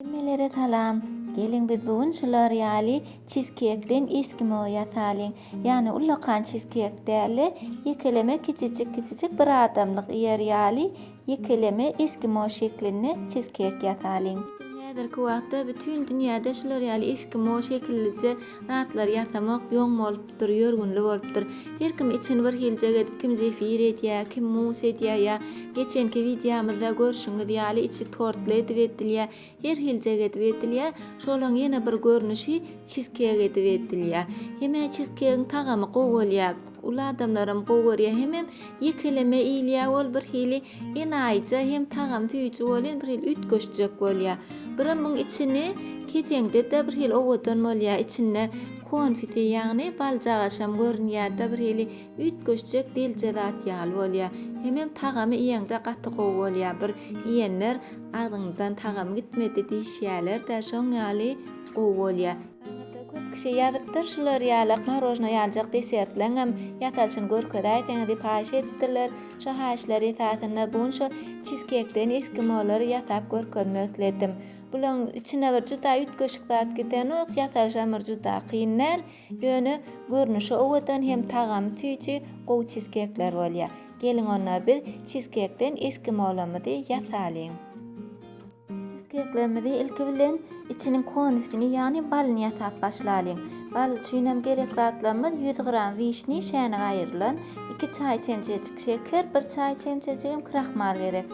Hemmelere salam! Geliň biz bu gün şular ýaly çizkekden eskimo ýasalyň. Ýagny ullakan çizkek däl-de, ýekeleme kiçijik kiçijik bir adamlyk iýer ýaly ýekeleme eskimo şeklinde çizkek ýasalyň. Häzirki wagtda bütin dünýäde şular ýaly eskimo şekillije Zatlar ýasamak ýoň bolupdyr, ýörgünli bolupdyr. Her kim içini bir hiljek edip kim zefir edýä, kim mus edýä ýa geçenki wideomyzda görşüňiz ýaly içi tortly edip edilýä, her hiljek edip edilýä. Şolaň ýene bir görnüşi çizkek edip edilýä. Hemä çizkegiň tagamy gowy bolýa. Uly adamlaram gowy görýä hemem ýekeleme iýilýä ol bir hili enaýyja hem tagam süýji bolýan bir hili üýtgeşjek bolýa. Birem muň içini keseňdede bir hili owadan bolýa içinde konfiti ýagny baljagaşam görünýärde bir hili üýtgeşjek delje zat ýaly bolýa. Hemem tagamy iýeňde gaty gowy bolýa bir iýenler agzyňdan tagam gitmedi diýişýälerdä şoň ýaly gowy bolýa. Aňyrda köp kişi ýazypdyr, şular ýaly marojna ýaljak desertleňem ýasalyşyny görkezäýseňiz diýip haýyş edipdirler. Şo haýyşlar esasynda bu gün şo çizkekden eskimolary ýasap görkezmek isledim. Bulaň içine bir juda üýtgeşik zat gitenok, ýasalyşam bir juda kyn däl, ýöne görnüşi owadan hem tagamy süýji gowy çizkekler bolýar. Geliň onda biz çizkekden eskimolamyzy ýasalyň. Çizkeýklerimizi ilki bilen içiniň konusini, ýagny balyny ýasap başlalyň. Bal üçinem gerek zatlarymyz, ýüz gram wişni, şäne gaýyrlan, iki çaý çemçejik şeker, bir çaý çemçejigem krahmal gerek.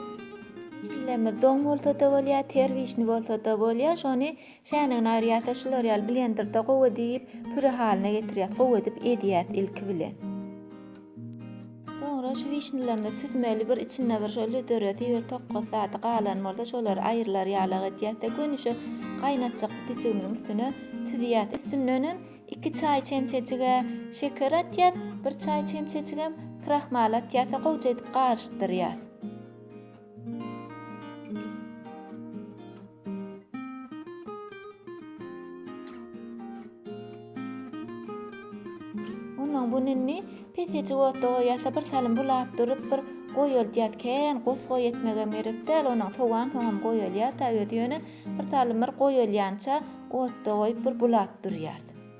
Wişnilerimiz doň bolsa-da bolýar, ter wişni bolsa-da bolýar. Şony Çäýnegini aýyrýas-a, şular ýaly blenderde gowy edip, püre halyna getirýäs. Gowy edip ezýäs ilki bilen. Soňra şu wişnýalarymyzy süzmeli bir içinde bir şol löderesi bir tokgat zady galan bolsa şolary aýrylar ýalak edýäs-de göni şu gaýnatjak sütüjigimiziň üstüne süzýäs. Üstündenem iki çaý çemçejig-ä şeker atýas, bir çaý çemçejigem krahmal atýas-a gowja edip garyşdyrýas. Ondan bu ninni peseci otda goýasa bir salym bulap durup bir goýuldýat kän gos goý etmege gerek däl onuň sowan soňam goýulýar da özi ýöne bir salym bir goýulýança otda goýup bir bulap durýar.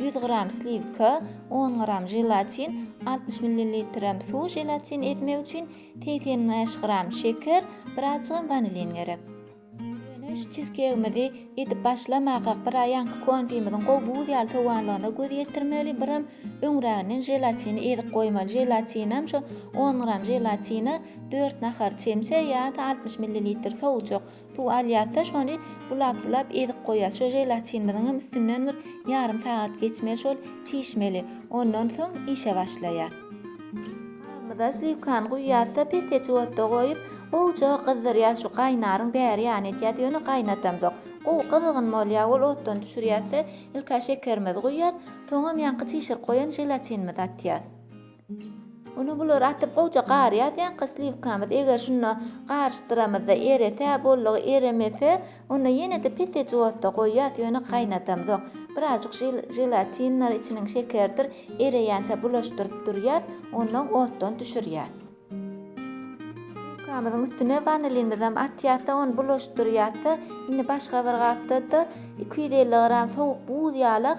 ýüz gram sliwka, on gram želatin, altmyş millilitrem suw želatin ezmek üçin segsen bäş gram şeker, bir azjygam wanilin gerek. Göwünöş çizkegimizi edip başlamakak bir aý ýaňky konfimiziň gowy buz ýaly sowanlygyna göz ýetirmeli, birem öňräginden želatini ezip goýmaly, želatinem şo on gram želatine dört nahar çemçe ýa-da altmyş millilitr sowujak Suw alýarsa, şony bulap-bulap ezip goýýarys. Şo želatinimiziň hem üstünden bir ýarym sagat geçmeli şol çişmeli. Ondan soň işe başlaýar. Gabymyza sliwkany guýýarys-da, pesleçik otda goýup, gowja gyzdyrýarys. Şu gaýnaryň bäri ýany etýär, ýöne gaýnadamzok. Gowy gyzgyn bolýar ol. Otdan düşürýäris-de, ilk-ä şekerimizi guýýarys, soňam ýaňky çişirip goýan želatinimizi atýarys. Ine bulary atyp gowja gar ýazýanka sliwkamyz eger şunda garyşdyramyzda erese boldugy eremese onda ýenede pese juwatda goýýas ýöne gaýnadamzok birazjyk želatindir içiniň şekerdir ereýänçä bulaşdyryp durýas ondan otdan düşürýas. Sliwkamyzyň üstüne wanilinimizem atýasda ony bulaşdyrýasda indi başga bir gapdada iki ýüz elli gram sowuk buz ýalak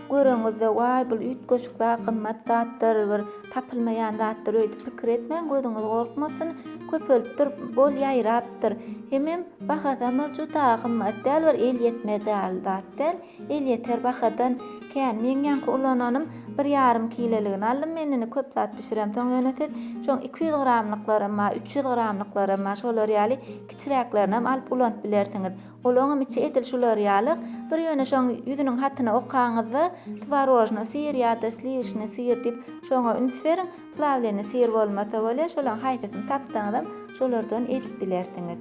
Göreňizde, Waý, bul üýtgeşik zat, gymmat zatdyr, bir tapylmaýan zatdyr öýdüp pikir etmäň, gözüňiz gorkmasyn, köpelipdir, bol ýaýrapdyr. Hemem bahasam bir juda gymmat däl, bir elýetmez ýaly zat däl, elýeter bahadan kän. Meň ýaňky ulananym bir ýarym kileligini aldym men, indi köp zat bişiremsoň ýöne siz şoň iki ýüz gramlyklarynma, üç ýüz gramlyklaryma, şolar ýaly kiçiräklerinem alyp ulanyp bilersiňiz. Olaňam içi edil şular ýaly. Bir ýöne şoň ýüzüniň hatyny okaňyzda tworojny syr ýa-da sliwişni syr diýip, şoňa üns beriň. Plawleni syr bolmasa bolýar, şolaň haýsysyny tapsaňyzam, şolardan edip bilersiňiz.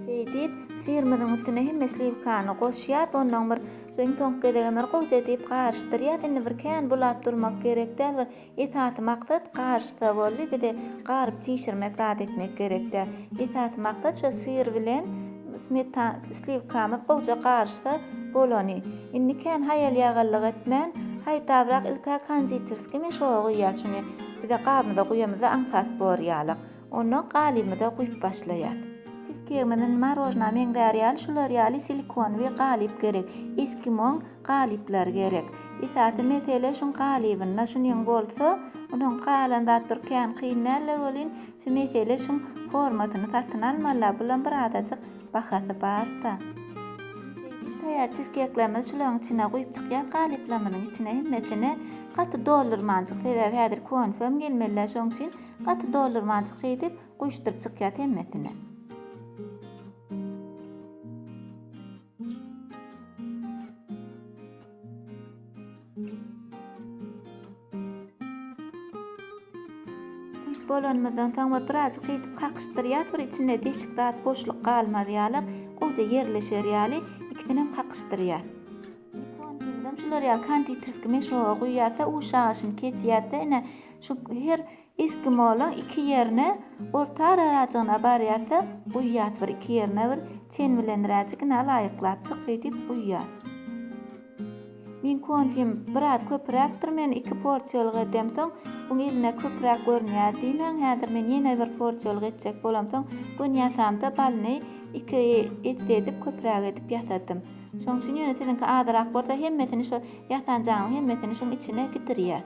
Şeýdip, syrymyzyň üstüne hemme sliwkany goşýas, onnoň bir iň soňky gezegem bir gowja edip garyşdyrýas. Indi bir kän bulap durmak gerek däl, bir Esasy maksat garyşsa boldy bize garyp çişirmek zat etmek gerek däl. Esasy maksat şo syr bilen smetan sliwkamyz gowja garyşsa bolany. Indi kän haýalýagallyk etmän haýtabrak ilk-ä konditerskiý meşoga guýýas şuny bize gabymyza guýamyzda aňsat bor ýalyk. Ondan galybymyza guýup başlaýas. Çizkegimiz indi marojna meňzär ýaly şular ýaly silikonywy galyp gerek. Eskimon Galyplar gerek. Esasy mesele şuň galybynda şunyň bolsa, onuň galan zat bir kän kyn däl-le welin, şu mesele şuň formasyny satyn almaly-la, bulam bir azajyk bahasy bar-da. Şeýdip taýýar çizkekleriňizi şularyň içine guýup çykýas galyplamynyň içine hemmesini gaty doldurmanjyk, sebäbi häzir konfem gelmeli-le şoň üçin gaty doldurmanjyk şeýdip guýuşdyryp çykýas hemmesini. bolanymyzdan soň bir birazjyk şeýdip kakyşdyrýas bir içinde deşik zat boşluk galmaz ýaly gowja ýerleşer ýaly ikisinem kakyşdyrýas şular ýaly konditerskiý meşoga guýýas da uşagyşyny kesýäs da ine şu her Eskimolaň iki ýerine ortararajygyna barýarsa, uýýas bir iki ýerine bir çen bilenräjigine laýyklap çyk şeýdip uýýas. Meň konfim biraz köpüräkdir men iki porsiýalyk edem soň bu gelne köpüräk görünýär diýmäň häzir men ýene bir porsiýalyk etjek bolam soň gön ýasamda balyny iki esse edip köpüräk edip ýasadym şoň üçin ýöne siziňki azyrak bolsa hemmesini şo ýasanjaňyň hemmesini şuň içine gidirýäs.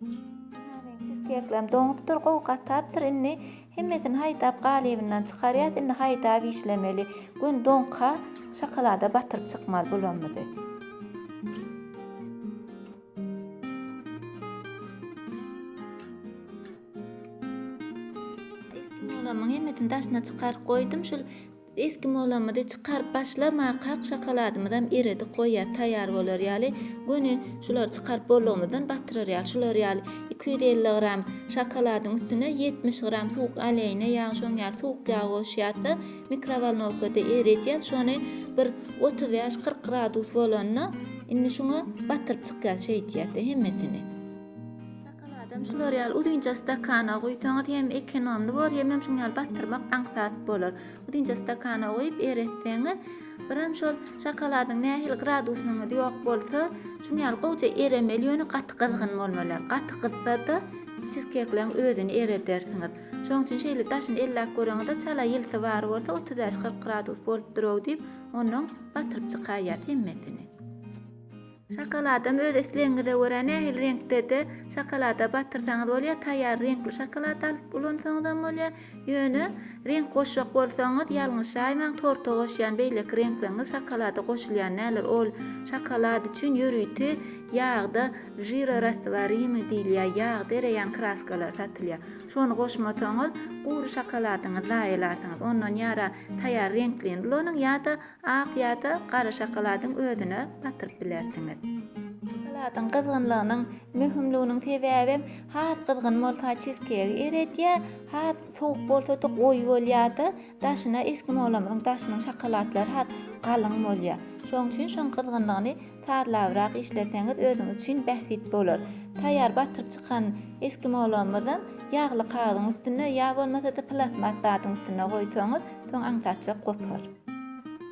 Name çizkeklem doňupdyr gowy gatapdyr indi hemmesini haýdap galybyndan çykarýas indi haýdap işlemeli gün doňka şokolada batyryp çykmaly bulamyzy. Eski molamyň hemmesini daşyna çykaryp goýdum şul Esgi molamyzy çykaryp başlamak kak şakaladymyzam eredik goýýar taýýar bolar ýaly, göni şulary çykaryp boldugymyzdan batyrar ýaly, şular ýaly iki ýüz elli gram şakaladyň üstüne ýetmiş gram suwuk oleýne ýag şoň ýaly suwuk ýag goşýarsyň mikrowolnowkada eredýär şony bir otuz bäş kyrk gradus bolanda indi şuňa batyryp çykýar şeýdýärdi hemmesini. Şokoladam şular ýaly uzynja stakana guýsaňyz hem ekonomly bolar, hemem şuň ýaly batyrmak aňsat bolar. Uzynja stakana guýup eretseňiz, biram şol şokoladyň nähili gradusynyňyz ýok bolsa, şuň ýaly gowja eremeli, ýöne gaty gyzgyn bolmaly ýaly. Gaty gyzsa-da çizkekleň özüni eredersiňiz. Şoň üçin şeýle daşyny elläp göreňizde çala ýylysy bar bolsa otuz bäş-kyrk gradus bolupdyr-ow diýip, onnoň batyryp çykaýýas hemmesini. Şokoladam öz islegiňize görä nähili reňkde-de şokolada batyrsaňyz bolýar, taýýar reňkli şokolad alyp ulansaňyzam bolýar, ýöne reňk goşjak bolsaňyz ýalňyşaýmaň, torta goşýan beýleki reňkleňiz şokolada goşulýan däldir, ol şokolad üçin ýörite ýagda žirorastwarimiý diýilýär, ýagda ereýän kraskalar satylýar, şony goşmasaňyz gury şokoladyňyzy zaýalarsyňyz, ondan ýara taýýar reňklini ulanyň ýa-da Ak ýa-da gara şokoladyň özüne batyryp bilersiňiz. Şokoladyň gyzgynlygynyň möhümliginiň sebäbem has gyzgyn bolsa çizkegi eredýär, has sowuk bolsada goýy bolýarda, daşyna eskimolamyzyň daşynyň şokolatlary has galyň bolýar. Şonuň üçin şoň gyzgynlygyny sazlabrak işleseňiz özüňiz üçin bähbit bolar. Taýýar batyryp çykan eskimolamyzam ýagly kagyzyň üstüne ýa bolmasada plasmas zadyň üstüne goýsaňyz soň aňsatjak gopar.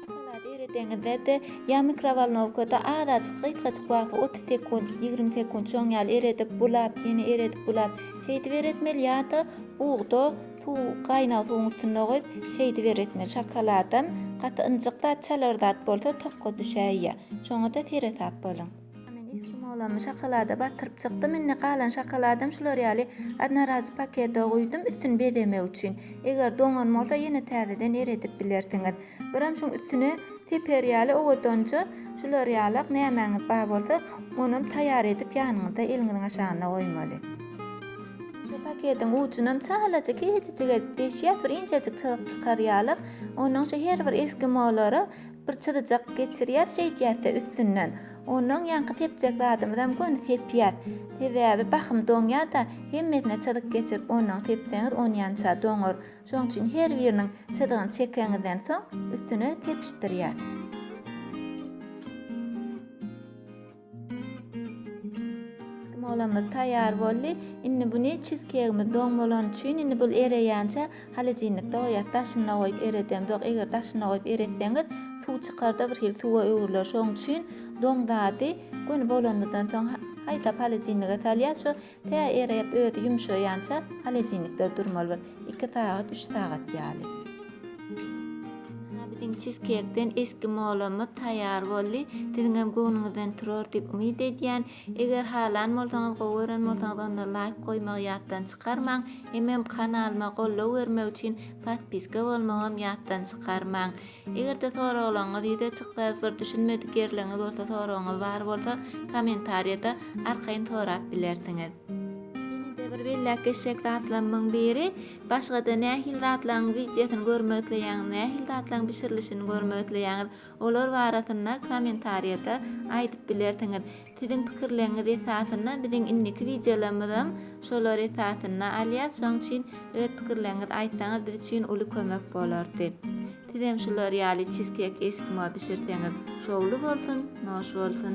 Salady eredeňizde-de ýa mikrowolnowkada azajyk gysgajyk wagta otuz sekunt, ýigrimi sekunt şoň ýaly eredip, bulap, ýene eredip, bulap, şeýdip eretmeli ýa-da bugda suw, gaýnag suwuň üstünde goýup, şeýdip eretmeli. Şokoladam gaty ynjyk zat, çalar zat bolsa tokga düşäýýä. Şoňa-da seresap boluň. A men eskimolamy şokolada batyryp çykdym, indi galan şokoladam şular ýaly odnorazowy pakete guýdum, üstüni bezemek üçin. Eger doňan bolsa ýene täzeden eredip bilersiňiz. Birem şuň üstüne teper ýaly owadanja şular ýalak nämäňiz bar bolsa, onam taýýar edip ýanyňyzda eliňiziň aşagynda goýmaly. Şu paketiň ujunam çalaja kiçijik edip deşýäs, bir inçejik çyzyk çykar ýalak. Onuň şu her bir eskimolara Bir çyzyjak geçirýär şeýdýärse üstünden, onnoň ýaňky sepjek zadymyzam göni sepýär. Sebäbi bahym doňýar-da, hemmesine çyzyk geçirip onnoň sepseňiz onýança doňar. Şoň üçin her biriniň çyzygyny çekeňizden soň üstüne sepişdirýär. Smolymyz taýýar boldy. Indi buny çizkegimiz doň bolany üçin indi bul ereýänçä holodilnikde goýýas. Daşynda goýup eredemzok. Eger daşynda goýup eretseňiz, suw çykar-da bir hili suwa öwrüler. Şoň üçin doň zady göni bolanymyzdan soň haýdap holodilnige salýas. Şu Tä erep, özi ýumşaýança holodilnikde durmaly bir iki sagat, üç sagat ýaly. Biziň çizkeýkden eskimolymyz taýýar boldy. Siziňem göwnüňizden turar diýip umyt edýän. Eger halan bolsaňyz, gowy gören bolsaňyz onda laýk goýmagy ýatdan çykarmaň. Hemem kanalyma goldaw bermek üçin podpiska bolmagam ýatdan çykarmaň. Eger-de soraglaryňyz ýüze çyksa, bir düşünmedik ýerleriňiz bolsa, soragyňyz bar bolsa, kommentariýada arkaýyn sorap bilersiňiz. Ýene-de bir belläp geçjek zatlarymyň biri, başga-da nähili zatlaryň wideosyny görmek isleýäňiz, nähili zatlaryň bişirilişini görmek isleýäňiz, olar barasynda kommentariýada aýdyp bilersiňiz. Siziň pikirleriňiz esasynda biziň indiki wideolarymyzam şolar esasynda alýas şoň üçin öz pikirleriňizi aýtsaňyz biz üçin uly kömek bolardy. Sizem şular ýaly çizkek eskimo bişirseňiz şowly bolsun, noş bolsun.